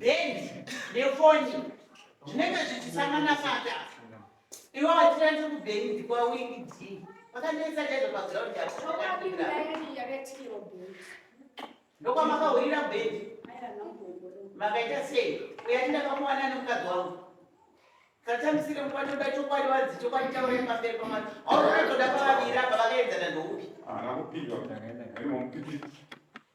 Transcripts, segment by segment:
bhendi nefoni zvinenge zvichisangana pata ivo vachirandiri kubhendi kwawind vakandiisa chaizvo paground ndokwamakaurira bhendi makaita sei uyati ndakamuwana nemukadzi wangu satambisire mukwandoda chokwadi wadzi chokwadi chaurei pamberi pamwana aurotoda pavaviri apa vakaenzana ndoupi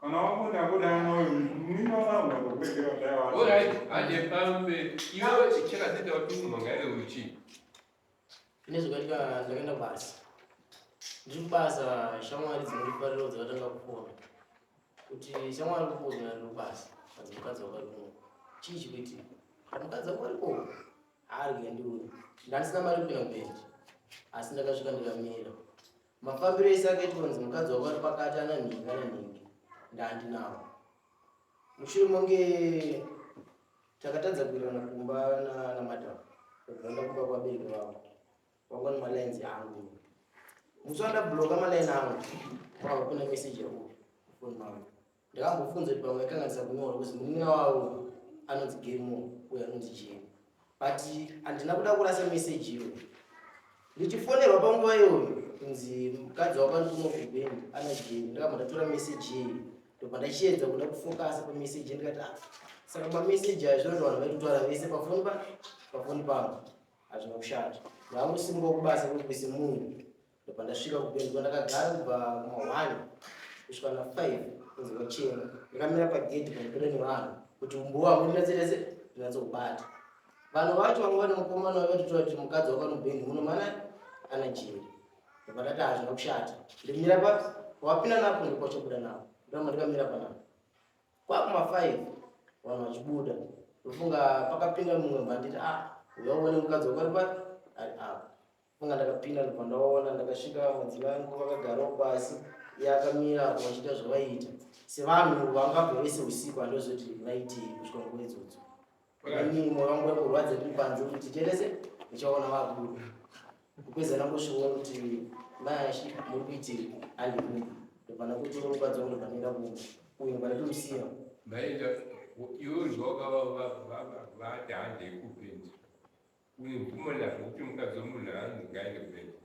Kana wakunda kuda anoyo mimi wabangu wakukwegera zvayo wacho. Alright, aje pambe. Iwe chichera zita kuti munonga ere uchi. Ine zvakaita ndakaenda basa. Ndiri kubasa shamwari dzinoripariro dzakatanga kupona. Kuti shamwari kupona ndiri kubasa. Adzi mukadzi wakarimo. Chii chikuitika? Mukadzi wakarimo. Ari kuya ndiwe. Ndandisina mari kupinda kubenzi. Asi ndakasvika ndikamira. Mafambiro ese akaitwa kunzi mukadzi wavo ari pakati ana nhingi ana nhingi ndaandinawo. Mushure monge takatadza kuirana kumba namadam ndakubva ndakuba kwabereki vavo vakona malines yangu musi wandabloka maline angu kwava kuna meseji yakuyo foni mangu Ndakambofunza kuti pamwe akanganisa kunyora kuti munin'ina wavo anonzi Gemo uye anonzi Jeni. But handina kuda kurasa message iyo. Ndichifonerwa panguva iyoyo kunzi mukadzi wako ari kuno kuBeni ana Jeni. Ndakabva ndatora message iyi ndobva ndachiedza kuda kufokasa pamessage ndikati ah saka pamessage ayo zvinoti vanhu vaitotwara vese pafoni pa pafoni pangu hazvina kushata. Ndaakusimbawo kubasa kuti kuise munhu ndopandasvika kupedzwa ndakagara kubva kumahwani kusvika na five kunzi vachena ndakamira pagedhi pandipinda nevanhu kuti umbuwa wangu ndinatserese ndinatsoubata vanhu vacho vanga vane mukomana vakatotaura kuti mukadzi wakanobheni muno mana ana jeri ndopandati hazvina kushata ndimira pa wapinda napo ndikwachobuda napo ndoma ndikamira panapo kwakuma five vanhu vachibuda ndofunga pakapinda mumwe mbanditi ah uya uone mukadzi wakaripa ari apa Manga ndakapinda ndobva ndaona ndakasvika vamwedzi vangu vakagarawo pasi iye akamira apo vachiita zvavaiita sevanhu vangabva vese usiku andozoti naitii kusvika nguva idzodzo ini moyo wangu waikurwadza tiri panze kuti titerese ndichaona vakuru kupedza ndangosviona kuti mayashi muri kuitii andikumba ndobva ndakutora mukadzi wangu ndobva ndaenda kumba uyu ndobva ndatomusiya maenda iwe zvawakavavati handei kupinda Uyu mvumo nazvo kuti mukadzi wemunhu hanzi ngaende kubenzi.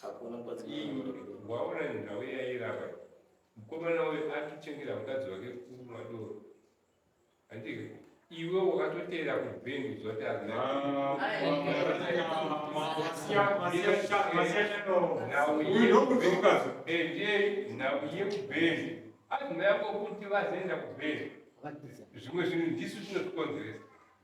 Hakuna mukadzi wemunhu. Waona nhau yairava. Mukomana uyu atuchengera mukadzi wake kumwa doro. Handike. Iwe wakatoteera kubenzi kuzwa kuti hazina. Nhau yekubhenzi. Endei nhau yekubhenzi. Hazina yako kuti vazoenda kubhenzi. Zvimwe zvinhu ndisu zvinotikonzeresa.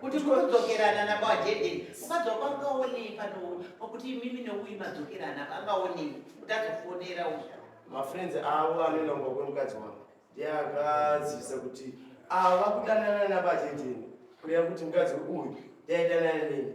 kuti munodzokerana nabajede mukadzoka angaonei panowo pakuti imimi neuyi madzokerana angaonei kuti azofonera uya mafriends avo anoenda kumba kwemukadzi wangu ndiye akazivisa kuti ava kudanana nabajede kureva kuti mukadzi uyu ndaidanana neni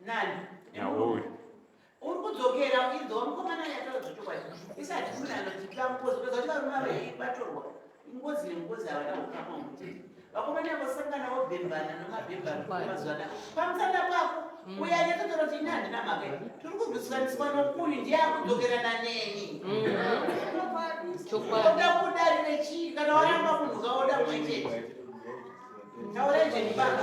nani naomi uri kudzokera uchidzwa mukomana yataura zvechokwadi isati muna anotipa ngozi peza kuti varume ava vatorwa ingozi nengozi havana kukama kuti vakomana yavo sangana vobhembana nomabhembano mazuva na pamusana pako mm. uya nyatotora kuti ini handina mhaka i tiri kurwisisaniswa nokuyu ndiye akudzokerana neni mm. oda kudari nechii kana waramba munhu kaoda mwe chete taurai zvenipaka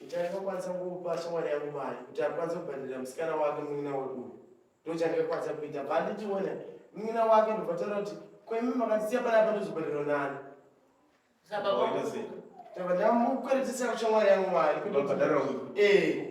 Ndichakakwanisa kupa shamwari yangu mari kuti akwanise kubhadharira musikana wake munin'ina wedu uyu. Ndochakakwanisa kuita bva ndichiona munin'ina wake ndobva taura kuti kwemi makandisiya panapa ndozobhadharwa nani. Ndabva ndamukweretesa kushamwari yangu mari. Ndobhadharwa. Eh.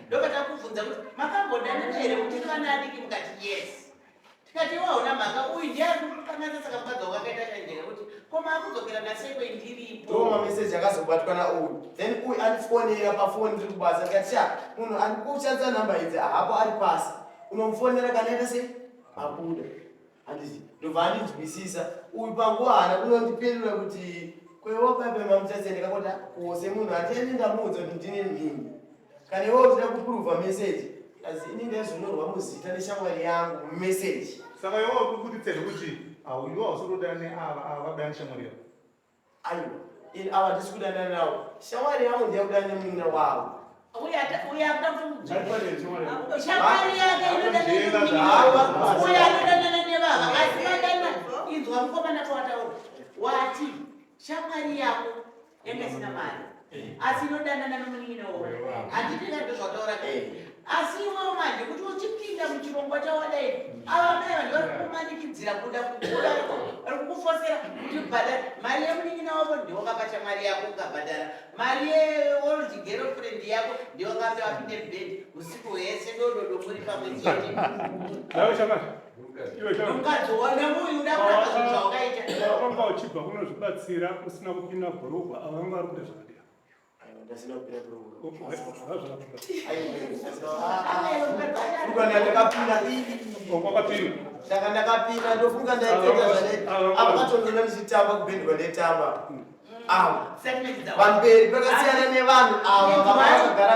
ndoka takubvunza kuti makambodanana here muchiri vana adiki mukati yes tikati waona mhaka uyu ndiye ari kukanganisa saka mukadzi wako akaita chanjera kuti ko maakudzokera nasei kwe ndiripo ndoo mameseji akazobatwa nauyu then uyu andifonera pafoni ndiri kubasa tikati sha munhu ari kushandisa nhamba idzi ahapo ari pasi unomufonera kana ita sei abuda handizi ndobva andinzwisisa uyu panguva haana kunondipindura kuti kwewo baibai mamuchase ndikakota kose munhu hatiende ndamuudza kuti ndine mhini kana iwe uchida kupuruvha meseji asi ini ndaizonyorwa muzita neshamwari yangu mumeseji saka iwe wakubuditsa zvekuti auyiwa usotoda neava ava vabuda neshamwari yavo Aiwa, ini ava ndisi kudanana navo. Shamwari yangu ndiye kudana nemunin'ina wavo. Uya ta- uya akuda kuti Avo shamwari yake inodanana Zvienda nemunin'ina zvavo. wavo. Uya anodanana nevava asi vadana inzwa mukomana towataura wati shamwari yako yanga isina mari asi inodanana nomunin'ina woyo handiti ndazvo zvataura asi iwewo manje kuti uchipinda muchirongwa chawadai ava mai vanhu vari kumanikidzira kuda kukura vari kukufosera kuti bhadhara mari yemunin'ina wavo ndiwakapacha mari yako ukabhadhara mari yeold girlfriend yako ndiwakape vapinde bed usiku hwese dododo muri pamwe chete mukadzi wana muyu uda kuramba zvinhu zvawakaita wanga uchibva kunozvibatsira usina kupinda bhurugwa ava vanga vari kuita zvakadii ndanga ndakapinda ndofunga ndaitenda zvane apa katondona ndichitamba kubendwa ndetamba ava pamberi pakasiyana nevanhu ava vavakagara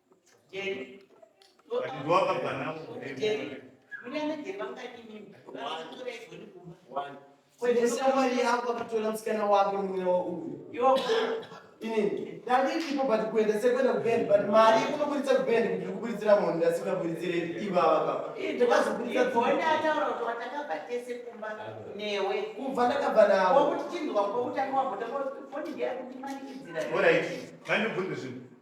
Shamwari yako akatola msikana wako murume wauyu inini ndanditipo but kuenda sekwenda kubend but mari kunoburitsa kubend kuti uri kuburitsira munhu ndasingaburitsire ivava papakuva ndakabva nawo